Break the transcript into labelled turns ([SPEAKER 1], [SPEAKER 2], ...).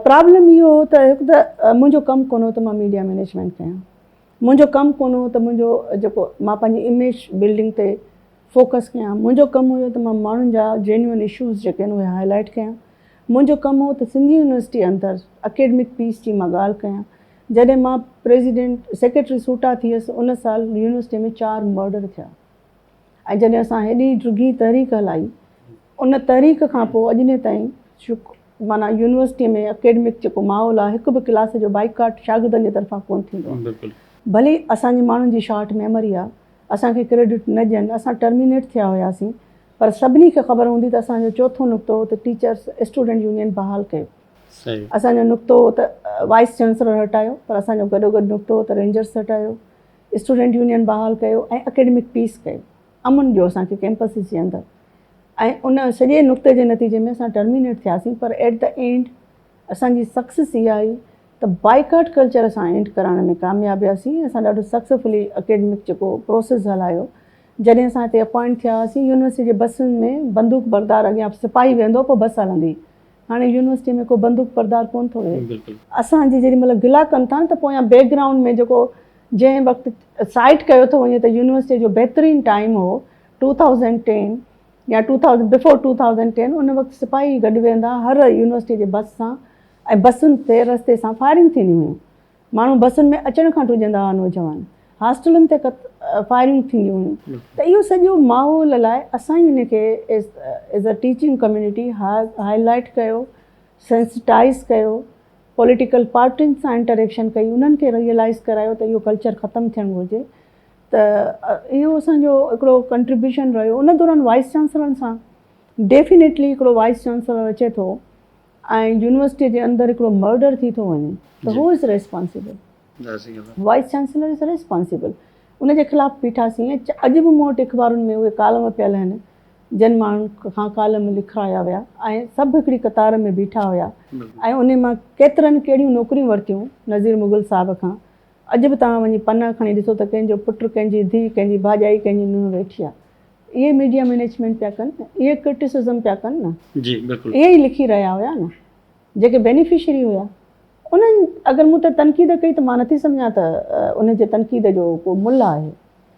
[SPEAKER 1] Problem اهو هو ته هڪ ته منهنجو ڪم ڪونه هو ته مان ميڊيا مينيجمينٽ ڪيان، منهنجو ڪم ڪونه هو ته منهنجو جيڪو مان پنهنجي اميج بلڊنگ تي فوڪس ڪيان، منهنجو ڪم هيو ته مان ماڻهن جا جينيون اشوز جيڪي آهن اهي هائلائيٽ ڪيان، منهنجو ڪم هو ته سنڌ يونيورسٽي اندر اڪيڊمڪ پيس جي مان ڳالهه ڪيان، جڏهن مان پريزيڊنٽ سيڪريٽري سوٽا ٿيس ان سال يونيورسٽي ۾ چار مرڊر ٿيا ۽ جڏهن اسان هيڏي ڊگهي تحريڪ هلائي ان تحريڪ کان پوء اڄ ڏينهن تائين شڪ معنيٰ يونيورسٽيء ۾ اڪيڊمڪ جيڪو ماحول آهي، هڪ به ڪلاس جو بائيڪاٽ شاگردن جي طرفان ڪونه ٿيندو آهي. ڀلي اسان جي ماڻهن جي شارٽ ميموري آهي، اسان کي ڪريڊٽ نه ڏين، اسان ٽرمينيٽ ٿيا هياسين، پر سڀني کي خبر هوندي ته اسان جو چوٿون نقطو هو ته ٽيچرس اسٽوڊنٽ يونين بحال ڪيو. اسان جو نقطو هو ته وائيس چانسلر هٽايو، پر اسان جو گڏوگڏ نقطو هو ته رينجرس هٽايو، اسٽوڊنٽ يونين بحال ڪيو ۽ اڪيڊمڪ پيس ڪيو. امن جو اسان کي ڪيمپسز جي اندر ۽ ان سڄي نقطي جي نتيجي ۾ اسان ٽرمينيٽ ٿياسين پر ايٽ دي اينڊ اسان جي سڪسيس اها آئي ته بائيڪاٽ ڪلچر اسان اينڊ ڪرائڻ ۾ ڪامياب وياسين ۽ اسان ڏاڍو سڪسيفلي اڪيڊمڪ جيڪو پروسيس هلايو جڏهن اسان هتي اپوائنٽ ٿيا هئاسين يونيورسٽي جي بسن ۾ بندوق بردار اڳيان سپاهي ويهندو هو پوء بس هلندي هاڻي يونيورسٽي ۾ ڪو بندوق بردار ڪونه ٿو ويهي. اسان جي جيڏي مهل گلا ڪن ٿا نه ته پويان بيڪ گرائونڊ ۾ جيڪو جنهن وقت سائيٽ ڪيو ٿو وڃي ته يونيورسٽي جو بهترين ٽائيم هو ٽو ٿائوزنڊ ٽين يا two thousand before two thousand ten ان وقت سپاهي گڏ ويهندا هر يونيورسٽي جي بس سان ۽ بسن تي رستي سان فائرنگ ٿينديون هيون. ماڻهو بسن ۾ اچڻ کان ڊڄندا هئا، نوجوان هاسٽلن تي فائرنگ ٿينديون هيون ته اهو سڄو ماحول لاء اسان ئي ان کي as a teaching community highlight ڪيو، سينسٽائيز ڪيو، پوليٽيڪل پارٽين سان انٽريڪشن ڪئي، انهن کي ريئلائيز ڪرايو ته اهو ڪلچر ختم ٿيڻ گهرجي ته اهو اسان جو هڪڙو ڪنٽريبيوشن رهيو ان دوران وائيس چانسلرن سان ڊيفينيٽلي هڪڙو وائيس چانسلر اچي ٿو. ۽ يونيورسٽي جي اندر هڪڙو مرڊر ٿي ٿو وڃي ته هو is responsible vice chancellor is responsible ان جي خلاف بيٺا سين ۽ اڄ به مون وٽ اخبارن ۾ اهي ڪالم پيل آهن جن ماڻهن کان ڪالم لکرايا ويا ۽ سڀ هڪڙي قطار ۾ بيٺا هيا ۽ انهي مان ڪيترن ڪهڙيون نوڪريون ورتيون نظير مغل صاحب کان اڄ به توهان وڃي پنا کڻي ڏسو ته ڪنهن جو پٽ ڪنهن جي ڌي ڪنهن جي ڀاڄائي ڪنهن جي نونهن ويٺي آهي اهي ميڊيا مينيجمينٽ پيا ڪن اهي ڪرٽيسزم پيا ڪن نه جي بلڪل اهي ئي لکي رهيا هيا نه جيڪي بينيفشري هيا انهن اگر مون تي تنقيد ڪئي ته مان نٿي سمجهان ته ان جي تنقيد جو ڪو ملهه آهي